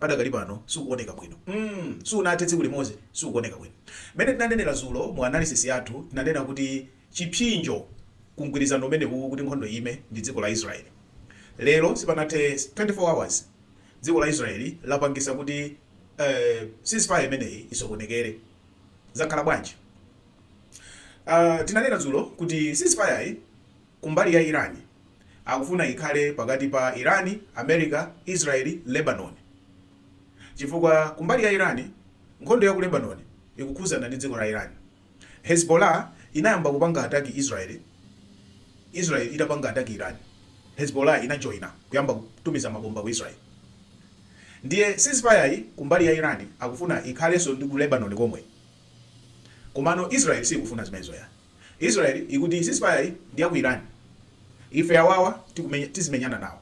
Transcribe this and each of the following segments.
padakali pano sukuoneka bwino sipanathe tsiku limodzi sukuoneka bwino mmene tinanenera zulo mu analysis yathu tinanena kuti chipsinjo ku mgwirizano umenewuwu kuti nkhondo ime ndi dziko la Israel lero sipanathe 24 hours dziko la Israel lapangisa kuti eh, ceasefire imeneyi isokonekere zakhala bwanji uh, tinanena zulo kuti ceasefire yi Kumbali ya Iran, akufuna ikhale pakati pa Iran, America, Israel, Lebanon. Chifukwa kumbali ya Iran, nkhondo ya ku Lebanon ikukhudzana ndi dziko la Iran. Hezbollah inayamba kupanga attack Israel, Israel itapanga attack Iran, Hezbollah inajoina kuyamba kutumiza mabomba ku Israel. Ndiye ceasefire yi kumbali ya Iran akufuna ikhalenso ndi ku Lebanon komwe. Komano Israel siikufuna zimenezo yayi. Israel ikuti ceasefire yi ndi ya ku Iran ife awawa tizimenyana nawo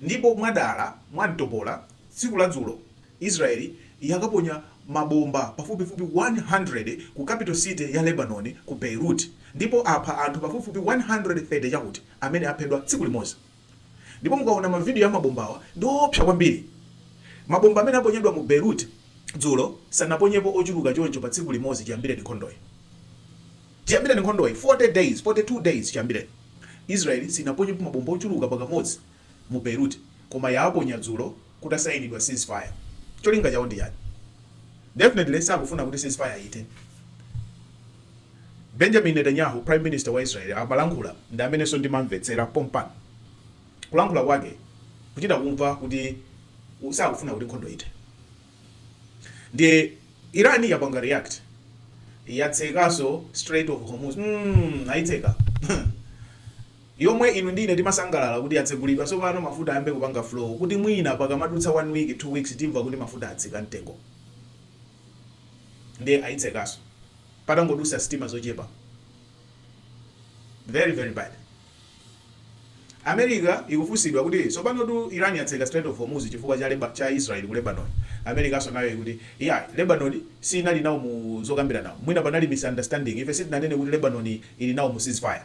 ndipo mwadala mwamtopola tsiku la dzulo Israel yakaponya mabomba pafupifupi 100 ku capital city ya Lebanon ku Beirut ndipo apha anthu pafupifupi 130 chakuti amene aphedwa tsiku limodzi. Ndipo mukaona mavidiyo a mabombawa, ndi oopsa kwambiri. Mabomba amene aponyedwa mu Beirut dzulo sanaponyepo ochuluka choncho pa tsiku limodzi chiyambireni nkhondoyi. Chiyambireni nkhondoyi, 40 days, 42 days chiyambireni, Israel sinaponyepo mabomba ochuluka pakamodzi mu Beirut, koma yaaponya dzulo. kutasayinidwa cease fire cholinga chawo ndi chani? Definitely sakufuna kuti cease fire ithe. Benjamin Netanyahu prime minister wa Israel akamalankhula ndi amenenso ndimamvetsera pompano kulankhula kwake kuchita kumva kuti sakufuna kuti nkhondo ithe. Ndiye Iran yapanga react yatsekanso Strait of Hormuz mm, ayitseka yomwe inu ndi ine timasangalala kuti yatsegulidwa tsopano mafuta ayambe kupanga flow kuti mwina pakamadutsa one week, two weeks timva kuti mafuta atsika mtengo ndiye ayitsekanso patangodutsa sitima zochepa very very bad. America ikufunsidwa kuti tsopanotu Iran yatseka Strait of Hormuz chifukwa cha leba, cha Israel ku Lebanon. Americanso nayo ikuti yeah, Lebanon siinali nawo mu zokambirana. Mwina panali misunderstanding. Ife sitinanene kuti Lebanon ili nawo mu ceasefire.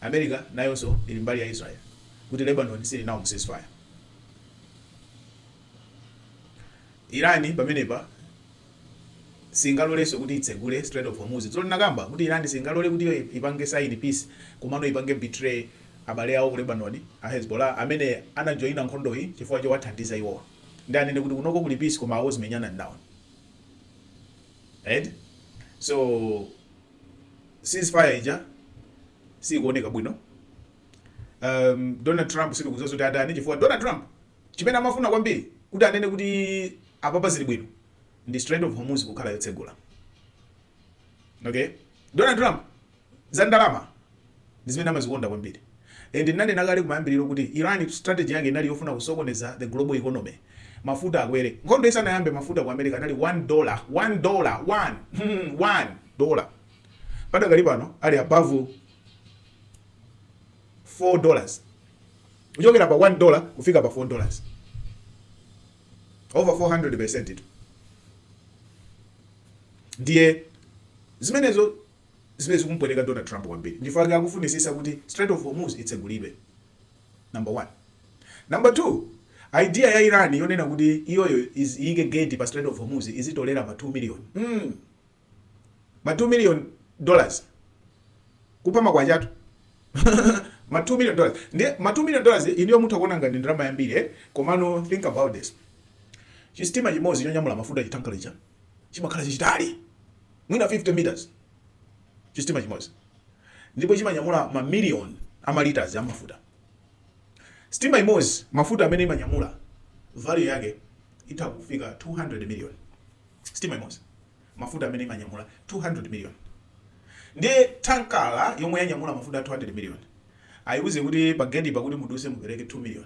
America nayonso ili mbali ya Israel kuti Lebanon sili nawo mu ceasefire. Iran pamenepa singalolenso kuti itsegule Strait of Hormuz. Dzulo ndinakamba kuti Iran singalole kuti iyo ipange sign peace komano ipange betray abale awo ku Lebanon a Hezbollah amene anajoina nkhondoyi chifukwa chowathandiza iwowa ndiye anene kuti kunoko kuli peace koma awo zimenyanani nawo. Eti? So ceasefire ija siikuoneka bwino um, donald trump sindikudziwa zoti atani chifukwa donald trump chimene amafuna kwambiri kuti anene kuti apapa zili bwino ndi strait of hormuz kukhala yotsegula okay donald trump za ndalama ndi zimene amazikonda kwambiri. And ndinanena kale kumayambiliro kuti Iran strategy yake inali yofuna kusokoneza the global economy. Mafuta akwere. Nkhondo isanayambe mafuta ku America anali one dollar, one dollar, one, one. dollar. Padakali pano ali above four dollars. Kuchokera pa one dollar kufika pa four dollars. Over 400% itu. Ndiye zimenezo Zimene zikumpweteka Donald Trump kwambiri nchifukwa chake akufunitsitsa kuti Strait of Hormuz itsegulidwe, number 1. Number 2, idea ya Iran yonena kuti iyoyo iz iyike gate pa Strait of Hormuz izitolera ma 2 million mm ma 2 million dollars kupha makwacha tu ma 2 million dollars ndiye ma 2 million dollars inuyo mutha kuona ngati ndi ndalama yambiri eti komano think about this, chisitima chimodzi chonyamula mafuta chithankala chija. chimakhala chachitali mwina 50 meters chisitima chimodzi ndipo chimanyamula ma million a ma litres a mafuta. Sitima imodzi mafuta amene imanyamula value yake itha kufika 200 million. Sitima imodzi mafuta amene imanyamula 200 million. Ndiye thankala yomwe yanyamula mafuta 200 million ayiuze kuti pa gate pa kuti muduse mupereke 2 million.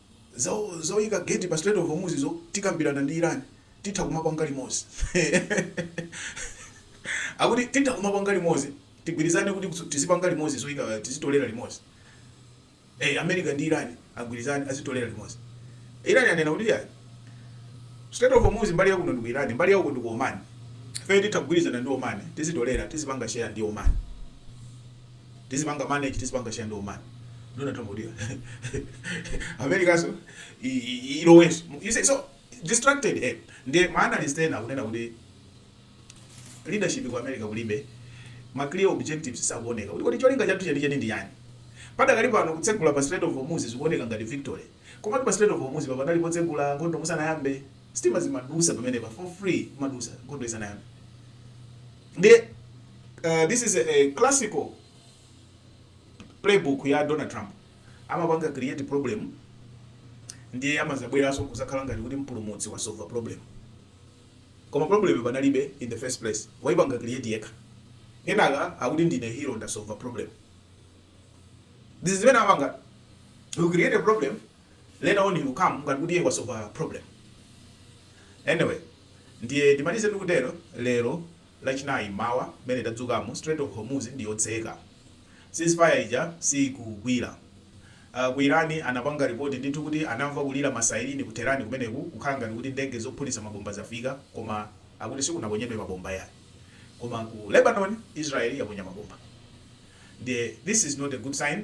Za zoyika gate pa strait of Hormuz zo tikambirana ndi Iran titha kumapanga limodzi akuti titha kumapanga limodzi tigwirizane kuti tizipanga limodzi zoyika tizitolera limodzi eh America ndi Iran agwirizane azitolera limodzi Iran yanena kuti ya strait of Hormuz mbali yakuno ndi ku Iran mbali yakuno ndi ku Oman ife titha kugwirizana ndi Oman tizitolera tizipanga share ndi Oman tizipanga manage tizipanga share ndi Oman ndona tombodira Americanso i- i- i- ilowenso you see so distracted eh ndiye ma analyst ena akunena kuti leadership ku america kulibe ma clear objectives sakuoneka kuti kodi cholinga chathu cheni cheni nchiyani padakali pano kutsegula pa Strait of Hormuz zikuoneka ngati victory komatu pa Strait of Hormuz papa panali potsegula nkhondo musanayambe Sitima zimadusa pamenepa for free kumadusa nkhondo isanayambe ndiye uh, this is a, a classical playbook ya Donald Trump amapanga create problem ndiye amazabweranso kuzakhala ngati kuti mpulumutsi wasolve problem koma problem panalibe in the first place waipanga create yekha kenaka akuti ndine hero ndasolve problem this is zimene amapanga you create a problem later on he will come ngati kuti iye wasova problem anyway ndiye ndimalize ndikutero lero lachinayi mmawa mmene tadzukamu strait of hormuz ndi yotseka ceasefire ija siikugwira uh, ku irani anapanga ripoti ndithu kuti anamva kulira masairini ku terani kumeneku kukhala ngati kuti ndege zophulitsa mabomba zafika koma akuti sikunaponyedwe mabomba yani koma ku lebanon israeli yaponya mabomba ndiye this is not a good sign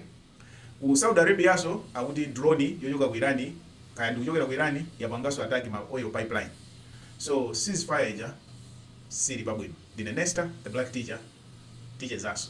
Ku Saudi Arabianso akuti drone yochoka ku Iran kaya ndikuchokera ku Iran yapanganso attack ma oil pipeline. So cease fire ija sili pabwino. Ndine Nesta the black teacher tichezanso.